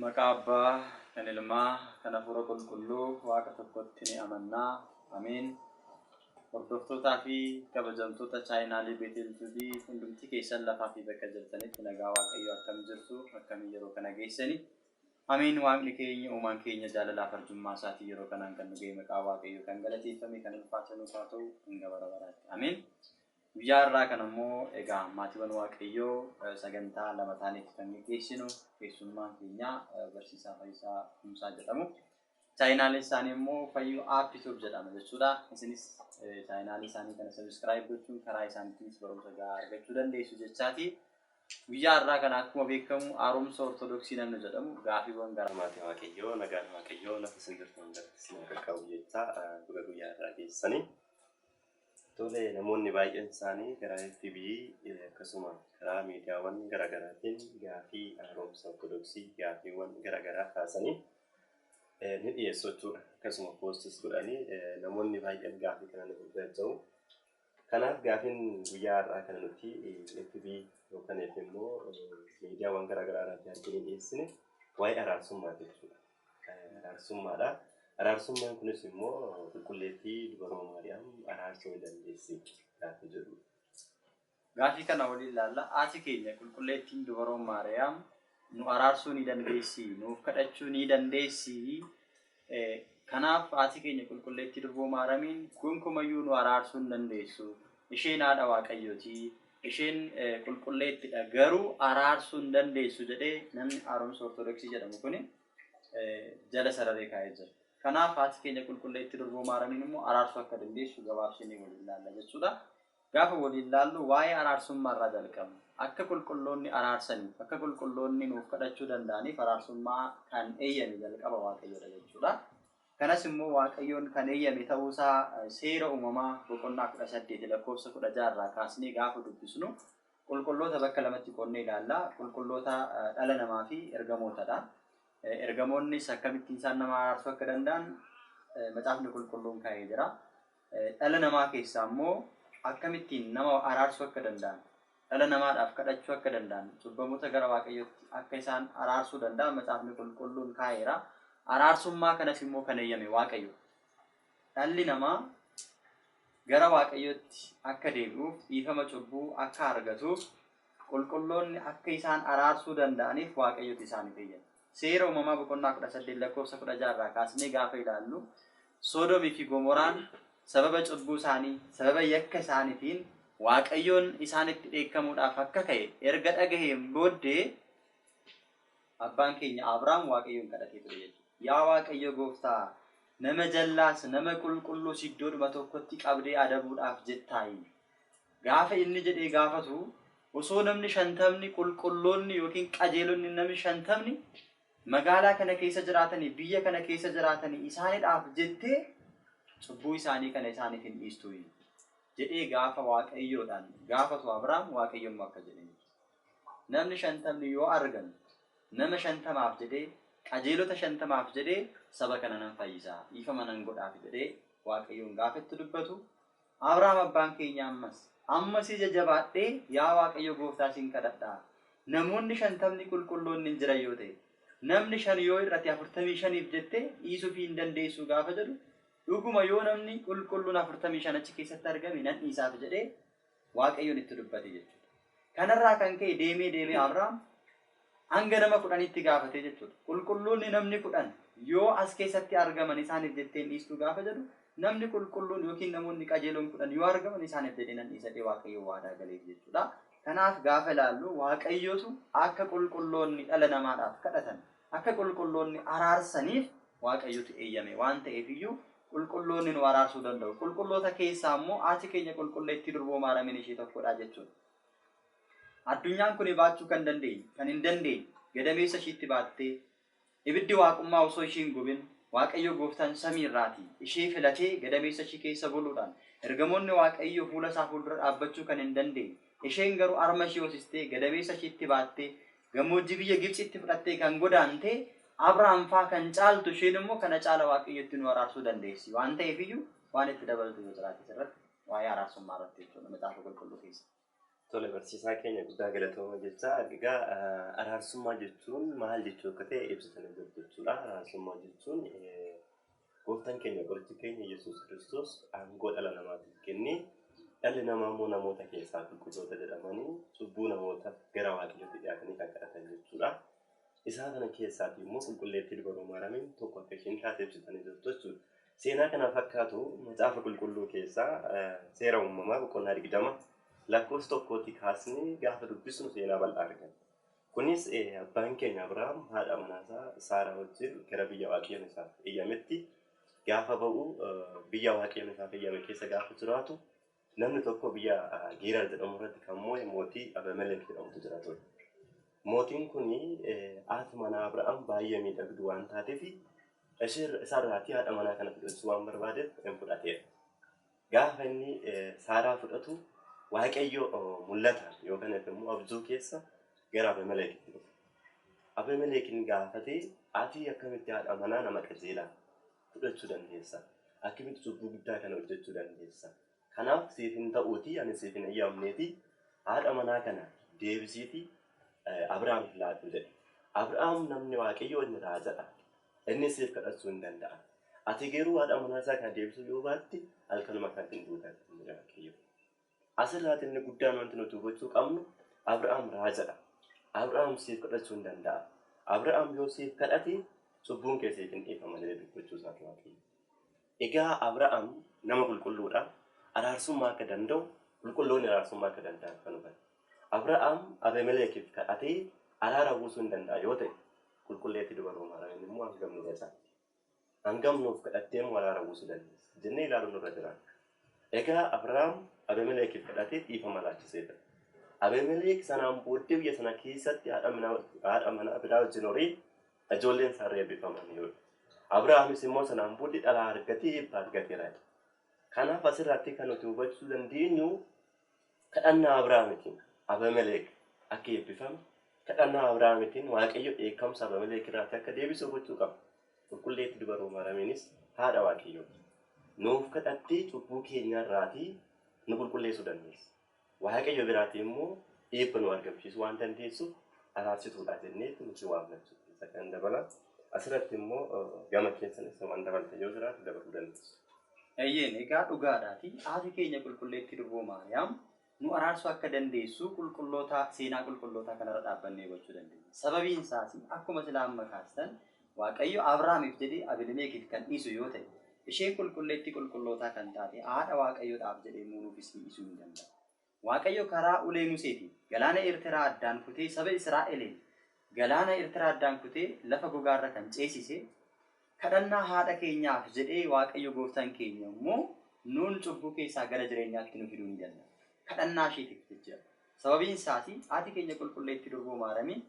Maqaa Abbaa, kan Ilmaa, kan Hafuura Qulqulluu Waaqa tokkotti ni amanna. Ameen. Hordoftootaa fi kabajamtoota chaayinaalii Beetel Tuubii hundumti keessan lafaa fi bakka jirtanitti nagaa Waaqayyoo akkam jirtu akkamii yeroo kana geessani. Ameen waaqni keenya uumaan keenya jaalalaaf arjummaa isaatiin yeroo kanaan kan nu ga'e maqaa waaqayyoo kan galateeffame kan ulfaate nuuf haa ta'u hanga bara baraatti ameen guyyaa har'aa kan ammoo egaa maatiiwwan waaqayyoo eh, sagantaa lama taaneetti kan geggeessinu keessummaan keenya eh, barsiisaa fayyisaa kumsaa jedhamu Chaayinaalii isaanii immoo fayyuu app tube jedhama jechuudha. Isinis chaayinaalii isaanii kana sabiskiraayib gochuun karaa isaaniitiinis barumsa gahaa argachuu dandeessu jechaati. Guyyaa har'aa kana akkuma beekamu haaromsa ortodoksii namni jedhamu gaafiiwwan garaa Maatii Waaqayyoo nagaan Waaqayyoo lafa isin jirtan hundatti isin haa qaqqabu jechaa baga guyyaa irraa geessanii. Tole, namoonni baay'een isaanii karaa FB akkasuma karaa miidiyaawwan garaagaraatiin gaafii haaromsa Ortodoksii gaafiiwwan garaagaraa kaasanii ni dhiyeessu jechuudha. Akkasuma poostis godhanii namoonni baay'een gaafii kana nuuf jajja'u. Kanaaf gaafiin guyyaa har'aa kana nuti FB yookaan immoo miidiyaawwan garaagaraa irratti arginee dhiyeessine waa'ee araarsummaati jechuudha. Kan araarsummaadha. Araarsummaan kunis immoo qulqulleettii dubaroo Maariyaam araarsuu ni dandeessi gaaffii jedhudha. Gaaffii kana waliin laalla. Haati keenya qulqulleettiin dubaroo Maariyaam nu araarsuu ni dandeessi, nuuf kadhachuu ni dandeessi. Kanaaf haati keenya qulqulleettii durboo Maaramiin gonkumayyuu nu araarsuu hin dandeessu. Isheen haadha Waaqayyooti. Isheen qulqulleetti dha, garuu araarsuu hin dandeessu jedhee namni haaromsa Ortodoksii jedhamu kun jala sararee kaa'ee jira. Kanaaf haati keenya qulqulleetti Durboo Maaramiin immoo araarsuu akka dandeessu gabaabsinee waliin laalla jechuu dha. Gaafa waliin laallu waa'ee araarsummaa irraa jalqabna. Akka qulqulloonni araarsaniif, akka qulqulloonni nuuf kadhachuu danda'aniif araarsummaa kan eeyyame jalqaba Waaqayyo dha jechuu dha. Kanas immoo Waaqayyoon kan eeyyame ta'uu isaa Seera Uumamaa boqonnaa 18 lakkoofsa 16 irraa kaasnee gaafa dubbisnu qulqulloota bakka lamatti qoodnee ilaalla. Qulqulloota dhala namaa fi ergamootadha. Ergamoonnis akkamittiin isaan nama araarsuu akka danda'an macaafni qulqulluun kaa'ee jira. Dhala namaa keessaa immoo akkamittiin nama araarsuu akka danda'an, dhala namaadhaaf kadhachuu akka danda'an, cubbamoota gara Waaqayyootti akka isaan araarsuu danda'an Macaafni Qulqulluun kaa'eera. Araarsummaa kanas immoo kan eeyyame Waaqayyo. Dhalli namaa gara Waaqayyootti akka deebi'uuf, dhiifama cubbuu akka argatuuf, qulqulloonni akka isaan araarsuu danda'aniif Waaqayyotu isaaniif eeyyame. Seera Uumamaa boqonnaa 18 lakkoofsa 16 irraa kaasnee gaafa ilaallu Soodomii fi Gomoraan sababa cubbuu isaanii, sababa yakka isaanitiin Waaqayyoon isaanitti dheekkamuudhaaf akka ka'e erga dhagaheen booddee abbaan keenya Abraam Waaqayyoon kadhatee ture jechuudha. Yaa Waaqayyo gooftaa nama jallaas nama qulqulluus iddoodhuma tokkotti qabdee adabuudhaaf jettaayi. Gaafa inni jedhee gaafatu, osoo namni shantamni qulqulloonni ykn qajeelonni nami shantamni magaalaa kana keessa jiraatanii, biyya kana keessa jiraatanii isaanidhaaf jettee cubbuu isaanii kana isaaniif hin dhiistuuyi? jedhee gaafa Waaqayyoodhaan gaafatu Abraam Waaqayyo immoo akka jedheen namni shantamni yoo argan nama shantamaaf jedhee qajeelota shantamaaf jedhee saba kana nan fayyisa dhiifama nan godhaaf jedhee Waaqayyoon gaafa itti dubbatu Abrahaam abbaan keenya ammas. Amma si jajabaadhee yaa Waaqayyo gooftaa sin kadhadha. Namoonni shantamni qulqulloonni hin jiran yoo ta'e. Namni shan yoo hir'ate afurtamii shaniif jette dhiisufii hin dandeessuu gaafa jedhu dhuguma yoo namni qulqulluun afurtamii shan achi keessatti argame nan dhiisaaf jedhee Waaqayyoon itti dubbate jechuudha. Kanarraa kan ka'e deemee deemee Abraam hanga nama kudhanitti gaafate jechuudha. Qulqulluunni namni kudhan yoo as keessatti argaman isaaniif jettee hin dhiistuu gaafa jedhu namni qulqulluun yookiin namoonni qajeeloon kudhan yoo argaman isaaniif jedhee nan dhiisa jedhee Waaqayyo waadaa galeef jechuudha. Kanaaf gaafa ilaallu Waaqayyotu akka qulqulloonni dhala namaadhaaf kadhatan, akka qulqulloonni araarsaniif Waaqayyotu eeyyame waan ta'eef iyyuu Qulqulloonni nu araarsuu danda'u. Qulqulloota keessaa immoo haati keenya qulqulleettii durboo maaramiin ishee tokkodha jechuudha. Addunyaan kun baachuu kan dandeenye, kan hin dandeenye, gadameessa ishiitti baattee, ibiddi waaqummaa osoo ishii hin gubin, Waaqayyo gooftaan samii irraati ishee filatee gadameessa ishii keessa buluudhaan, ergamoonni Waaqayyo fuula isaa fuuldura dhaabbachuu kan hin dandeenye, isheen garuu harma ishii hoosistee, gadameessa ishiitti baattee, Gammoojjii biyya Gibxiitti fudhattee kan godaante Abrahaam faa kan caaltu isheen immoo kana caala Waaqayyotti nu araarsuu dandeessi waan ta'eef iyyuu waan itti dabaltu yoo jiraate asirratti waa'ee araarsummaa irratti jechuudha macaafa qulqulluu keessa. Tole barsiisaa keenya guddaa galatooma jecha egaa araarsummaa jechuun maal jechuu akka ta'e ibsitanii jirtu jechuudha. Araarsummaa jechuun Gooftan keenya Qorichi keenya Yesuus Kiristoos aangoo dhala namaatiif kennee dhalli namaa immoo namoota keessaa qulqulloota jedhamanii cubbuu namoota gara waaqayyootti dhiyaatanii kan kadhatan jechuudha. Isaa kana keessaati immoo qulqulleettii dubaroo maaramiin tokko akka isheen taate ibsitanii jirtu jechuudha. Seenaa kana fakkaatu macaafa qulqulluu keessaa seera uumamaa boqonnaa digdama lakkoofsa tokkootii kaasnee gaafa dubbisnu seenaa bal'aa arganna. Kunis abbaan keenya Abrahaam haadha manaa isaa Saaraa wajjin gara biyya Waaqayyoon isaaf eyyametti gaafa ba'u, biyya Waaqayyoon isaaf eyyame keessa gaafa jiraatu, namni tokko biyya Geerar jedhamu irratti kan moo'e mootii Abemelek jedhamutu jira ture. Mootiin kun haati manaa Abrahaam baay'ee miidhagdu waan taateef, isheerra- isaarraatii haadha manaa kana fudhachuu waan barbaadeef in fudhateera. Gaafa inni Saaraa fudhatu Waaqayyo mul'ataan yookaan immoo abjuu keessa gara Abimeleekitti dhufe. Abimeleekin gaafatee ati akkamitti haadha manaa nama qajeelaa fudhachuu dandeessa? Akkamitti cubbuu guddaa kana hojjechuu dandeessa? Kanaaf siif hin ta'uutii ani siif hin eeyyamneetii haadha manaa kana deebisiitii Abiraamiif laadhu jedhe. Abiraam namni Waaqayyoo inni raajadha. Inni siif kadhachuu hin danda'a. Ati garuu haadha manaa isaa kana deebisuu yoo baatte halkanuma kanatti ni duuta jedhe Waaqayyo. Asirraati inni guddaan wanti nuti hubachuu qabnu Abrahaam raajadha. Abrahaam siif kadhachuu hin danda'a. Abrahaam yoo siif kadhate cubbuun kee siif hin dhiifama jedhee dubbachuu isaati Waaqayyo. Egaa Abrahaam nama qulqulluu dha, araarsummaa akka danda'u, qulqulloonni araarsummaa akka danda'an kan hubate. Abrahaam Abemeleekiif kadhatee araara buusuu in danda'a yoo ta'e, qulqulleettii duba Roomaaraayonni immoo hangam nu cacaala? Hangam nuuf kadhattee immoo araara buusuu dandeessi? jennee ilaaluun nurra jiraata. Egaa Abrahaam Abemeleekiif kadhatee dhiifama laachiseefira. Abemeleek sanaan booddee biyya sana keessatti haadha manaa biraa wajjin horee Ijoolleen Saarri eebbifamaniiru. Abrahaamis immoo sanaan booddee dhalaa argatee eebba argateera. Kanaaf asirratti kan nuti hubachuu dandeenyu kadhannaa Abrahaamitiin Abameleek akka eebbifame, kadhannaa Abrahaamitiin Waaqayyo dheekkamsa Abameleek irraatti akka deebisu hubachuu qabna. Qulqulleetti dubaroo Maaramiinis haadha Waaqayyooti. Nuuf kadhattee cubbuu keenya irraatii nu qulqulleessuu dandeessi. Waaqayyo biraatii immoo eebba nuu argamsiisuu waan dandeessuuf araarsituudha jenneetti nuti waamna jechuudha. Isa kan dabala. Asirratti immoo gama keessanis waan dabaltan yoo jiraate dabaluu dandeessu. Eeyyeen egaa dhugaadhaati haati keenya qulqulleetti durboo Maariyaam nu araarsuu akka dandeessu qulqullootaa seenaa qulqullootaa kanarra dhaabbannee hubachuu dandeenya. Sababiin isaas akkuma silaa amma kaastan Waaqayyo Abrahaamiif jedhee Abelimeekiif kan dhiisu yoo ta'e, isheen qulqulleettii qulqullootaa kan taate haadha Waaqayyoo dhaaf jedhee immoo nuufis dhiiisuu hin danda'u. Waaqayyo karaa ulee Museetiin galaana Eerteraa addaan kutee saba Israa'eliin galaana Eerteraa addaan kutee lafa gogaa irra kan ceesise kadhannaa haadha keenyaaf jedhee Waaqayyo gooftaan keenya immoo nuun cubbuu keessaa gara jireenyaatti nu fiduu ni danda'a. Kadhannaa isheetiif jecha. Sababiin isaati haati keenya qulqulleettii durboo Maaramiin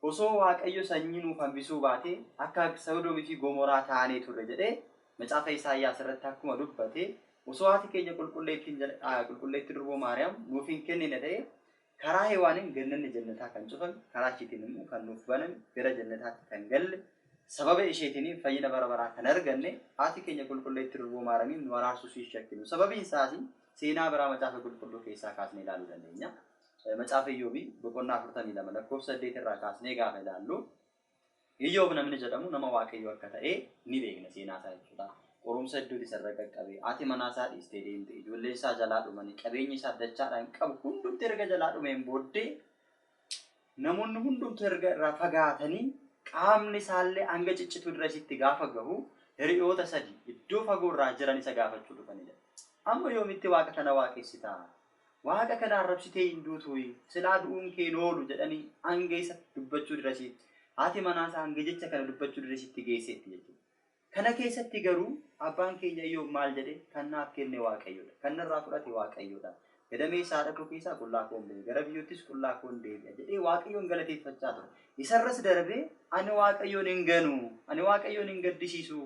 Osoo Waaqayyo sanyii nuuf hambisuu baatee akka Sodoomii fi Gomoraa taanee turre jedhee macaafa Isaayyaas irratti akkuma dubbate osoo haati keenya qulqulleetti durboo Maariyaam nuuf hin kennine ta'ee karaa Hewaaniin gannanni jannataa kan cufame karaa ishiitiin immoo kan nuuf baname gara jannataatti kan galle sababa isheetiin fayyina bara baraa kan arganne haati keenya qulqulleetti durboo Maariyaamiin nu araarsuus hin shakkinu sababiin isaas seenaa biraa macaafa qulqulluu keessaa kaasnee ilaaluu dandeenya. Macaafa Iyyoob boqonnaa 42 lakkoofsa 8 irraa kaasnee gaafa ilaallu Iyyoob namni jedhamu nama Waaqayyoo akka ta'e ni beekna seenaa isaa jechuudha. Qorumsa hedduuti isarra qaqqabe. Haati manaa isaa dhiistee deemte. Ijoolleen isaa jalaa dhumani. Qabeenyi isaa dachaadhaan qabu hundumti erga jalaa dhumeen booddee namoonni hundumtu erga irraa fagaatanii qaamni isaallee hanga ciccituu dirresitti gaafa gahu hiriyoota sadi iddoo fagoo irraa jiran isa gaafachuu dhufanidha. Amma yoomitti waaqa kana waaqessitaa? Waaqa kana arrabsitee hin duutuuyi, silaa du'uun kee hin oolu jedhanii hanga isa dubbachuu dirasiitti, haati manaa isaa hanga jecha kana dubbachuu dirasiitti geesseetti jechuudha. Kana keessatti garuu abbaan keenya Iyoob maal jedhe? Kan naaf kenne Waaqayyoodha. Kan narraa fudhate Waaqayyoodha. Gadameessa haadha koo keessaa qullaa koon ba'e, gara biyyoottis qullaa koon deebi'a jedhee Waaqayyoon galateeffachaa ture. Isarras darbee ani Waaqayyoon hin ganu, ani Waaqayyoon hin gaddisiisu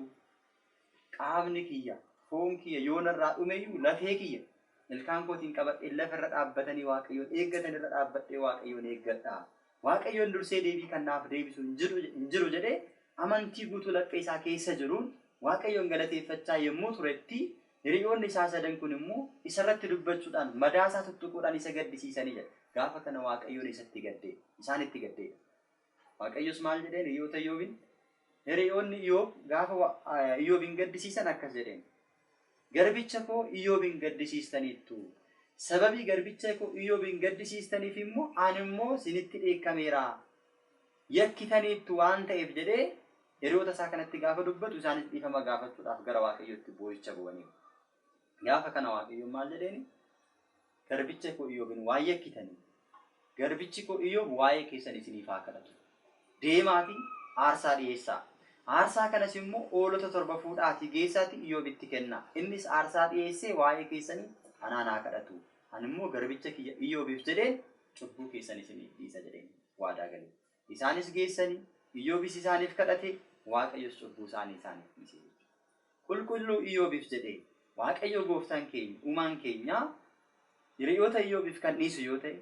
Qaamni kiyya, foon kiyya yoo narraa dhume iyyuu, lafee kiyya ilkaan kootiin qabadheen lafa irra dhaabbatanii Waaqayyoon eeggatan irra dhaabbadhee Waaqayyoon eeggadha. Waaqayyoon dursee deebii kan naaf deebisu hin jiru, hin jiru jedhee amantii guutuu laphee isaa keessa jiruun Waaqayyoon galateeffachaa yommuu turetti hiriyoonni isaa sadan kun immoo isa irratti dubbachuudhaan madaa isaa tuttuquudhaan isa gaddisiisanii jedha. Gaafa kana Waaqayyoon isatti gaddee, isaanitti gaddeedha. Waaqayyos maal jedheen hiriyoota Iyyoobiin? Hiriyoonni Iyyoob gaafa wa- eh, Iyyoobiin gaddisiisan akkas jedheen. Garbicha koo Iyyoobiin gaddisiistaniittu. Sababii garbicha koo Iyyoobiin gaddisiistaniif immoo ani immoo sinitti dheekkameera. Yakkitaniittu waan ta'eef jedhee hiriyoota isaa kanatti gaafa dubbatu isaanis dhiifama gaafachuudhaaf gara Waaqayyootti boo'icha boo'aniiru. Gaafa kana Waaqayyoon maal jedheeni? Garbicha koo Iyoobiin waan yakkitaniif, garbichi koo Iyoob waa'ee keessan isiniif haa kadhatu. Deemaatii aarsaa dhiyeessaa. Aarsaa kanas immoo hoolota torba fuudhaatii geessaatii Iyoobitti kennaa. Innis aarsaa dhiyeessee waa'ee keessanii anaan haa kadhatu. Ani immoo garbicha kiyya Iyoobiif jedheen cubbuu keessan isiniif dhiisa jedheen waadaa gale. Isaanis geessani, Iyyoobis isaaniif kadhate, Waaqayyos cubbuu isaanii isaaniif dhiise jechuudha. Qulqulluu Iyyoobif jedhee Waaqayyoo gooftaan keenya, uumaan keenyaa hiriyoota Iyyoobif kan dhiisu yoo ta'e,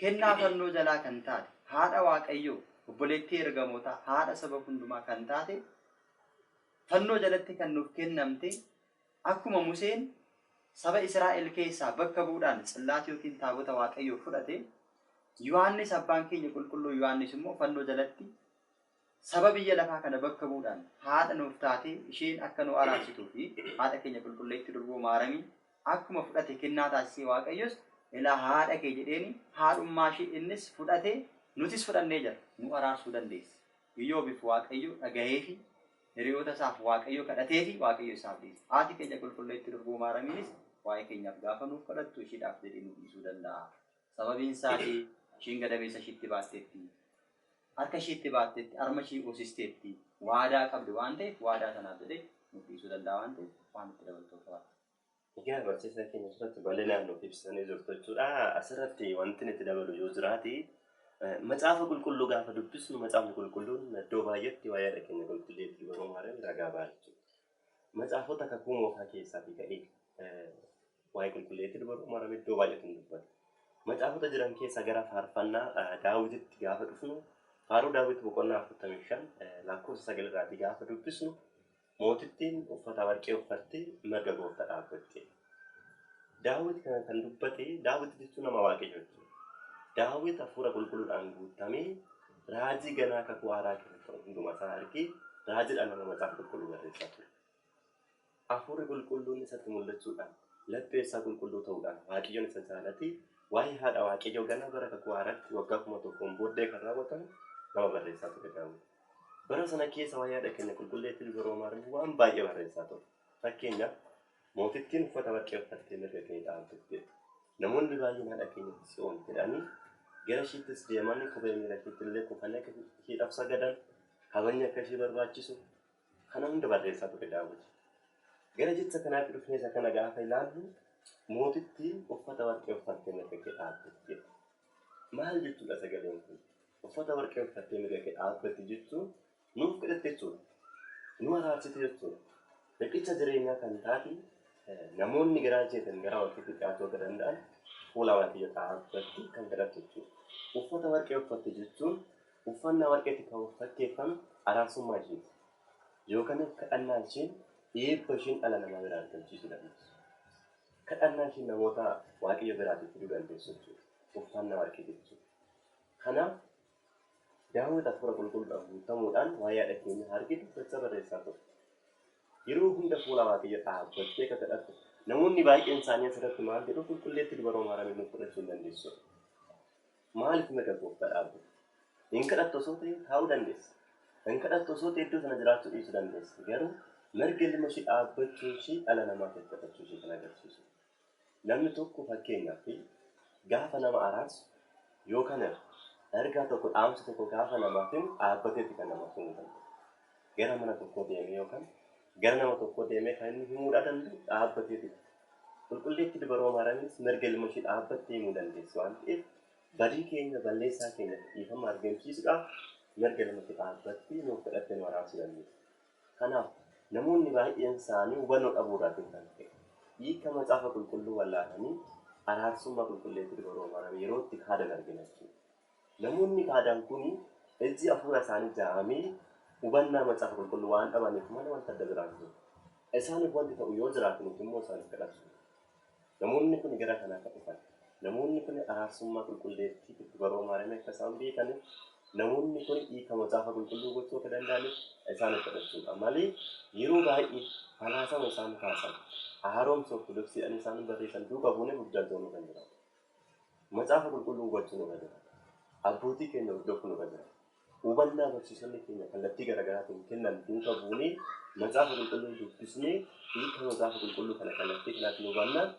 kennaa fannoo jalaa kan taate, haadha Waaqayyoo, obboleettii ergamootaa, haadha saba hundumaa kan taate, fannoo jalatti kan nuuf kennamte, Akkuma Museen saba Israa'el keessaa bakka bu'uudhaan Tsil'aat ykn Taabota Waaqayyoo fudhate, Yohaannis abbaan keenya Qulqulluu Yohaannis immoo fannoo jalatti saba biyya lafaa kana bakka bu'uudhaan haadha nuuf taatee isheen akka nu araarsituu fi haadha keenya Qulqulleettii Durboo Maaramiin akkuma fudhate kennaa taasisee Waaqayyos ilaa haadha kee jedheeni haadhummaa ishee innis fudhate nutis fudhannee jirra. nu araarsuu dandeessi. Iyyoobiif Waaqayyo dhagaheefii hiriyoota isaaf Waaqayyo kadhateefi Waaqayyo isaaf dhiise. Haati keenya Qulqulleetti Durbuu Maaramiinis waa'ee keenyaaf gaafa nuuf kadhattu ishiidhaaf jedhee nuuf dhiisuu danda'a. Sababiin isaati ishiin gadameessa ishiitti baatteetti. Harka ishiitti baatteetti, harma ishii hoosisteetti. Waadaa qabdi waan ta'eef waadaa sanaaf jedhee nuuf dhiisuu danda'a waan ta'eef waan itti dabaltu qabaadha. Egaa barsiisaa keenya asirratti bal'inaan nuuf ibsitanii jirtu jechuudha. Asirratti wanti itti dabalu yoo jiraate eh, macaafa qulqulluu gaafa dubbisnu macaafni qulqulluun iddoo baay'eetti waa'ee haadha keenya qulqulluu Eebbii Baroo Maariyaam ragaa ba'a jechuudha. Macaafota kakuu moofaa keessaatii ka'ee eh, waa'ee qulqulluu Eebbii Baroo Maariyaam iddoo baay'eetti ni dubbata. Macaafota jiran keessaa gara faarfannaa eh, daawwititti gaafa dhufnu faaruu daawwit boqonnaa 45 eh, lakkoofsa 9 irraatii gaafa dubbisnu Mootittiin uffata warqee uffattee mirga goofta dhaabbatte. Daawit kana kan dubbate, Daawit jechuun nama waaqayyo jechuudha. Daawit hafuura qulqulluudhaan guutamee raajii ganaa kakuu haaraa keessa ta'u hundumaa isaa argee raajiidhaan nama macaafa qulqulluu barreessaa ture. Hafuurri qulqulluun isatti mul'achuudhaan laphee isaa qulqulluu ta'uudhaan waaqayyoon isa jaalatee waa'ee haadha waaqayyoo ganaa bara kakuu haaraatti waggaa kuma tokkoon booddee kan raawwatamu nama barreessaa ture Daawit. Bara sana keessa waa'ee haadha keenya qulqulleettii luba Roomaa irratti waan baay'ee barreessaa ture. Fakkeenyaaf, mootittiin uffata warqee uffattee mirga kee dhaaltuuf jedhu. Namoonni baay'een haadha keenya Tsiyoon jedhanii gara ishiittis deemanii kophee miila ishiitti illee kufanii akka ishiidhaaf sagadan, kabajni akka ishii barbaachisu kana hunda barreessaa ture Daawit. Gara jecha kanaatti dhufnee isa kana gaafa ilaallu mootittiin uffata warqee uffattee mirga kee dhaaltuuf jedhu. Maal jechuudha sagaleen kun? Uffata warqee uffattee mirga kee dhaabbatte jechuun nuuf kadhatte jechuudha. Nu araarsite jechuudha. Riqicha jireenyaa kan taate namoonni garaa jeetan garaa warqeetti dhiyaachuu akka danda'an fuula waaqayyo dhaabbatte kan kadhatte jechuudha. Uffata warqee uffatte jechuun uffannaa warqeetti kan fakkeeffame araarsummaa isheeti. Yookaan kadhannaan isheen eebba isheen dhala namaa biraa argamsiisuu dandeessu. Kadhannaa kee namoota Waaqayyo biraati fiduu dandeessu jechuudha. Uffannaa warqii jechuudha. Kanaaf Daawit hafuura qulqulluudhaan guutamuudhaan waa'ee haadha keenyaa haa argitu jechaa barreessaa ture. Yeroo hunda fuula Waaqayyo dhaabbattee akka kadhattu namoonni baay'een isaanii asirratti maal jedhu qulqulleetti dubaroo maaramiin nuuf fudhachuu hin dandeessu. Maaliif mirga Gooftaa dhaabbatte? Hin kadhattu osoo ta'ee taa'uu dandeesse. Hin kadhattu osoo ta'ee iddoo sana jiraachuu dhiisuu dandeesse. Garuu mirga ilma ishii dhaabbachuun ishii dhala namaatiif kadhachuu ishii kan agarsiisu. Namni tokko fakkeenyaaf gaafa nama araarsu yookaan ergaa tokko dhaamsa tokko gaafa namaaf himu dhaabbateeti kan namaaf himuu danda'u. Gara mana tokkoo deemee yookaan gara nama tokkoo deemee kan inni himuudhaa danda'u dhaabbateeti. Qulqulleetti Dubaroo Maaramiinis mirga ilma ishii dhaabbattee himuu dandeessi waan ta'eef badii keenya, balleessaa keenyaf dhiifama argamsiisuudhaaf mirga ilma ishii dhaabbattee nuuf kadhattee nu araarsuu dandeessi. Kanaaf namoonni baay'een isaanii hubannoo dhabuu irraatiin kan ka'e hiika Macaafa Qulqulluu wallaalanii araarsummaa Qulqulleetti Dubaroo Maaramii yeroo itti kaadan argina jechuudha. Namoonni qaadan kun ijji afuura isaanii jaamee hubannaa Macaafa Qulqulluu waan dhabaniif malee wanta adda biraa hin jiru. Isaaniif wanti ta'u yoo jiraate nuti immoo isaaniif kadhachuu qabna. Namoonni kun gara kana akka dhufan, namoonni kun araarsummaa Qulqulleettii itti baroo Maariyaamii akka isaan beekaniif, namoonni kun hiika Macaafa Qulqulluu gochuu akka danda'aniif isaaniif kadhachuu qaba. Malee yeroo baay'ee falaasama isaan kaasan, haaromsa Ortodoksiidhaan isaan barreessan duuka buunee burjaaja'uun irra hin jiraatu. Macaafa Qulqulluu hubachuu nurra jira. Abbootii keenya hordofuu nurra jira. Hubannaa barsiisonni keenya kallattii garaagaraatiin kennan duuka buunee Macaafa Qulqulluu dubbisnee hiika Macaafa Qulqulluu kana kallattii kanaatiin hubannaan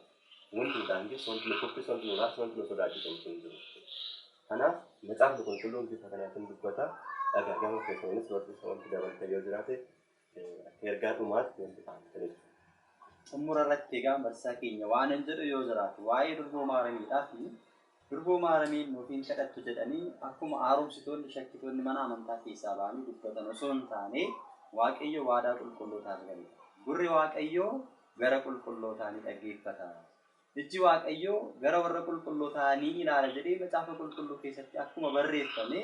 wanti nu daangessu, wanti nu kuffisu, wanti nu raarsu, wanti nu sodaachisu homtuu hin jiru. Kanaaf Macaafni Qulqulluun bifa kanaatiin dubbata. Egaa gama keessaniinis barsiisa wanti dabaltan yoo jiraate Ergaa dhumaatti nuuf ibsaa Dr. Ibsa. Xummura irratti egaan barsiisaa keenya waanan jedhu yoo jiraate waa'ee durboo maaramiidhaa fi durboo maaramiin nuuf hin kadhattu jedhanii akkuma haaromsitoonni shakkitoonni mana amantaa keessaa ba'anii dubbatan osoo hin taane waaqayyo waadaa qulqullootaaf galeera. Gurri waaqayyoo gara qulqullootaa ni dhaggeeffata. Ijji Waaqayyoo gara warra qulqullootaa ni ilaala jedhee Macaafa Qulqulluu keessatti akkuma barreeffame,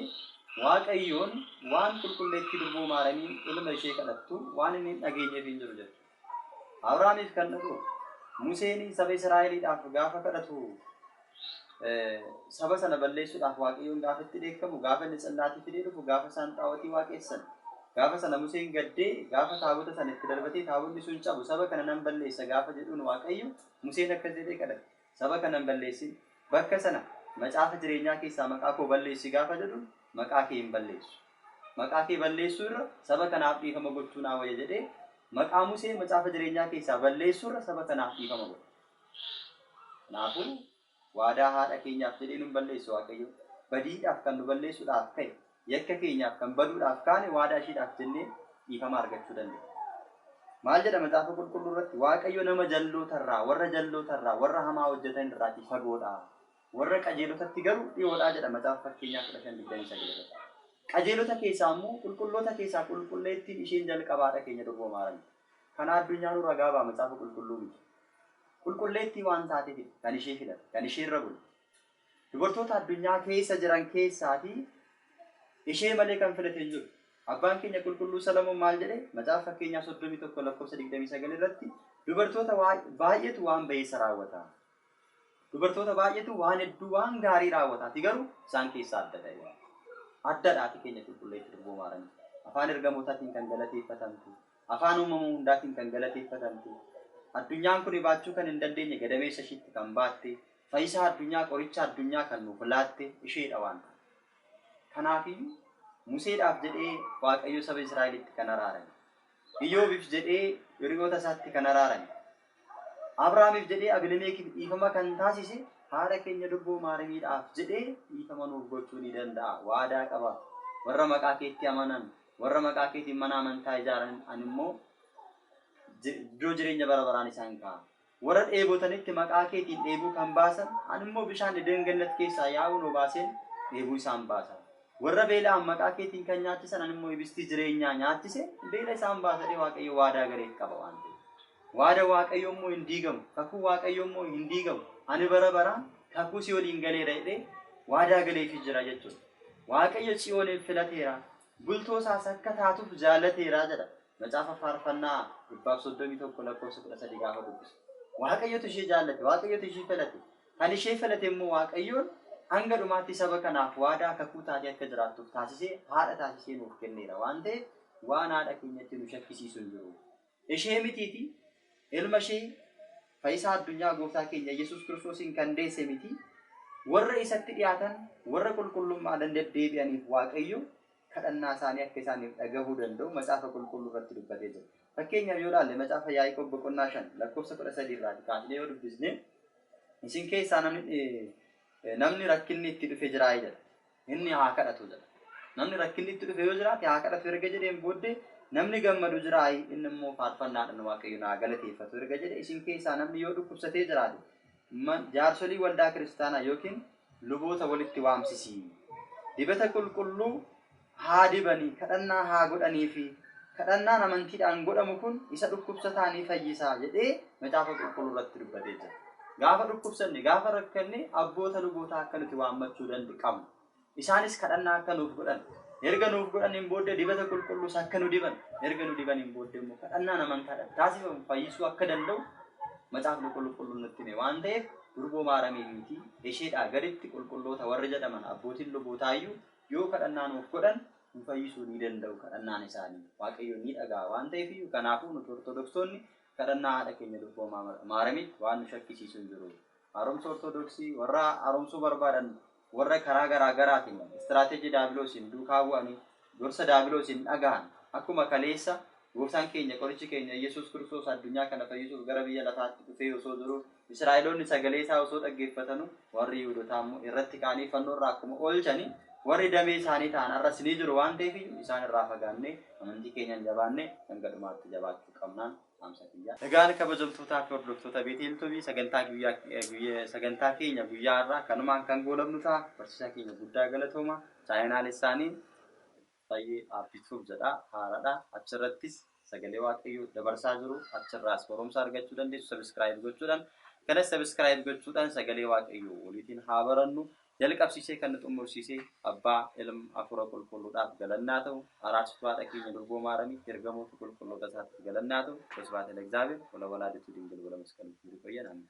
Waaqayyoon waan Qulqulleettii Durboo Maaramiin ilma ishee kadhattu waan inni hin dhageenyeef hin jiru jette. Abrahaamiif kan dhaga'u, Museen saba Israa'eliidhaaf gaafa kadhatu, saba sana balleessuudhaaf Waaqayyoon gaafa itti dheekkamu, gaafa inni tsillaatii fidee dhufu, gaafa isaan xaawotii waaqessan, gaafa sana Museen gaddee, gaafa taabota sana itti darbatee taabonni sun cabu, saba kana nan balleessa gaafa jedhuun Waaqayyo, Museen akkas jedhee kadhate, Saba kana hin balleessin, bakka sana, Macaafa jireenyaa keessaa maqaa koo balleessi gaafa jedhun maqaa kee hin balleessu. Maqaa kee balleessuu irra saba kanaaf dhiifama gochuu naa wayya jedhee maqaa Musee macaafa jireenyaa keessaa balleessuu irra saba kanaaf dhiifama godhe. Kanaafuu. Waadaa haadha keenyaaf jedhee nun balleesse Waaqayyo. Badiidhaaf kan nu balleessuudhaaf ka'e, yakka keenyaaf kan baduudhaaf kaane waadaa ishiidhaaf jennee dhiifama argachuu dandeenna. Maal jedha Macaafa Qulqulluu irratti? Waaqayyo nama jalloota irraa, warra jalloota irraa, warra hamaa hojjetan irraatii fagoodha. Warra qajeelotatti garuu dhi'oodha jedha Macaafa Fakkeenyaa 15:29 irratti. Qajeelota keessaa immoo qulqulloota keessaa qulqulleettiin isheen jalqabaa haadha keenya durboo Maaramiidha. Kana addunyaanuu ragaa ba'a macaafa qulqulluu miti. Qulqulleettii waan taatefidha kan ishee filate, kan isheerra bule. Dubartoota addunyaa keessa jiran keessaati ishee malee kan filate hin jiru. Abbaan keenya qulqulluu Salamoon maal jedhe? Macaafa fakkeenyaa 31 lakkoofsa 29 irratti dubartoota baay'eetu waan ba'eessa raawwata. Dubartoota baay'eetu waan hedduu waan gaarii raawwata ati garuu isaan keessaa adda ta'e. Addadha ati keenya qulqulleetti durboo maaramii. Afaan ergamootaatiin kan galateeffatamtu, afaan uumama hundaatiin kan galateeffatamtu, addunyaan kuni baachuu kan hin dandeenye gadameessa ishiitti kan baatte, fayisaa addunyaa qoricha addunyaa kan nuuf laatte isheedha waan ta'eef. Kanaafiyyuu Museedhaaf jedhee Waaqayyo saba Israa'elitti kan araarame. Iyyoobiif jedhee hiriyoota isaatti kan araarame. Abrahaamiif jedhee Abilemeekiif dhiifama kan taasise haadha keenya durboo Maarimiidhaaf jedhee dhiifama nuuf gochuu ni danda'a. Waadaa qaba. Warra maqaa keetti amanan, warra maqaa keetiin mana amantaa ijaaran ani immoo iddoo jireenya bara baraan isaan kaa'a. Warra dheebotanitti maqaa keetiin dheebuu kan baasan, ani immoo bishaan Eden Gannat keessaa yaa'uun obaaseen dheebuu isaan baasa. Warra beela'an maqaa keetiin kan nyaachisan, ani immoo ibistii jireenyaa nyaachiseen beela isaan baasa jedhee Waaqayyo waadaa galeef qaba waan ta'eef. Waada Waaqayyoo immoo hin diigamu, kakuu Waaqayyoo immoo hin diigamu. Ani bara baraan kakuu si waliin galeera jedhee waadaa galeefii jira jechuudha. Waaqayyo Tsiyooniin filateera, bultoo isaas akka taatuuf jaallateera jedha. Macaafa Faarfannaa dhibbaaf 31 lakkoofsa 13 gaafa dubbisu. Waaqayyotu ishee jaallate, Waaqayyotu ishee filate. Kan ishee filate immoo Waaqayyoon hanga dhumaatti saba kanaaf waadaa kakuu taatee akka jiraattuuf taasisee haadha taasisee nuuf kenneera waan ta'eef waan haadha keenyatti nu shakkisiisu hin jiru. Ishee mitiiti ilma ishee fayyisaa addunyaa gooftaa keenya Yesuus Kiristoosiin kan deesse miti warra isatti dhiyaatan warra qulqullummaadhaan deddeebi'aniif Waaqayyo kadhannaasaanii akka isaaniif dhagahuu danda'u Macaafa Qulqulluurratti dubbatee jira. Fakkeenyaaf yoo ilaalle Macaafa Yaaqoob boqonnaa 5 lakkoofsa 13 irraati kaasnee yoo dubbisne isin keessaa namni namni rakkinni itti dhufe jiraa jedha. Inni haa kadhatu jedha. Namni rakkinni itti dhufe yoo jiraate haa kadhatu erga jedheen booddee namni gammadu jiraa inni immoo faarfannaadhaan waaqayyoon haa galateeffatu erga jedhe isin keessaa namni yoo dhukkubsatee jiraate man- jaarsolii waldaa kiristaanaa yookiin Luboota walitti waamsisi. Dibata qulqulluu haa dibanii, kadhannaa haa godhaniifi. Kadhannaan amantiidhaan godhamu kun isa dhukkubsataa ni fayyisa jedhee Macaafa Qulqulluu irratti dubbatee jira. Gaafa dhukkubsanne, gaafa rakkanne abboota lubootaa akka nuti waammachuu dand qabnu. Isaanis kadhannaa akka nuuf godhan, erga nuuf godhaniin booddee dibata qulqulluus akka nu diban, erga nu dibaniin booddee immoo kadhannaan amantaadhaan taasifamu fayyisuu akka danda'u Macaafni Qulqulluun nutti hime waan ta'eef Durboo Maaramiin miti, isheedhaa gaditti qulqulloota warri jedhaman abbootiin lubootaa iyyuu yoo kadhannaa nuuf godhan nu fayyisuu ni danda'u kadhannaan isaanii Waaqayyo ni dhaga'a waan ta'eef iyyuu kanaafuu nuti Ortodoksonni kadhannaa haadha keenya Durboo Maaramiitti waan nu shakkisiisu hin jiru. Haaromsa Ortodoksii warra haaromsuu barbaadan Warra karaa garaa garaatiin istiraateejii daabiloosiin duukaa bu'anii gorsa daabiloosiin dhagahan akkuma kaleessa Gooftaan keenya qorichi keenya Iyyesuus Kiristoos addunyaa kana fayyisuuf gara biyya lafaatti dhufee osoo jiruu Israa'eloonni sagalee isaa osoo dhaggeeffatanuu warri Yihuudotaa immoo irratti ka'anii fannoo irraa akkuma oolchanii warri damee isaanii ta'an arras ni jiru waan ta'eef iyyuu isaan irraa fagaannee amantii keenyaan jabaannee hanga dhumaatti jabaachuu qabnaan Egaan kabajamtootaa fi hordoftoota Beeteel Tuubii sagantaa guyyaa eh, guyya- sagantaa keenya guyyaa har'aa kanumaan kan goolabnu ta'a. Barsiisaa keenya guddaa galatooma. Chaayinaal isaanii baay'ee aabbisuuf jedha haaradha. Achirrattis sagalee waaqayyoo dabarsaa jiru. Achirraas barumsa argachuu dandeessu sabiskiraayib gochuudhaan. Kanas sabiskiraayib gochuudhaan sagalee waaqayyoo waliitiin haa barannu. Jalqabsiisee kan nu xummursiise Abbaa, Ilm, Afuura Qulqulluudhaaf galanni haa ta'u, Araarsituu Haadha keenya Durboo Maaramiif, Ergamoota Qulqulloota isaatiif galanni haa ta'u, Wosibhaate Lexaabeer, Wolawalaadituu Dingil Wolamasqaluu Kibiir Iqoyyan Ameen.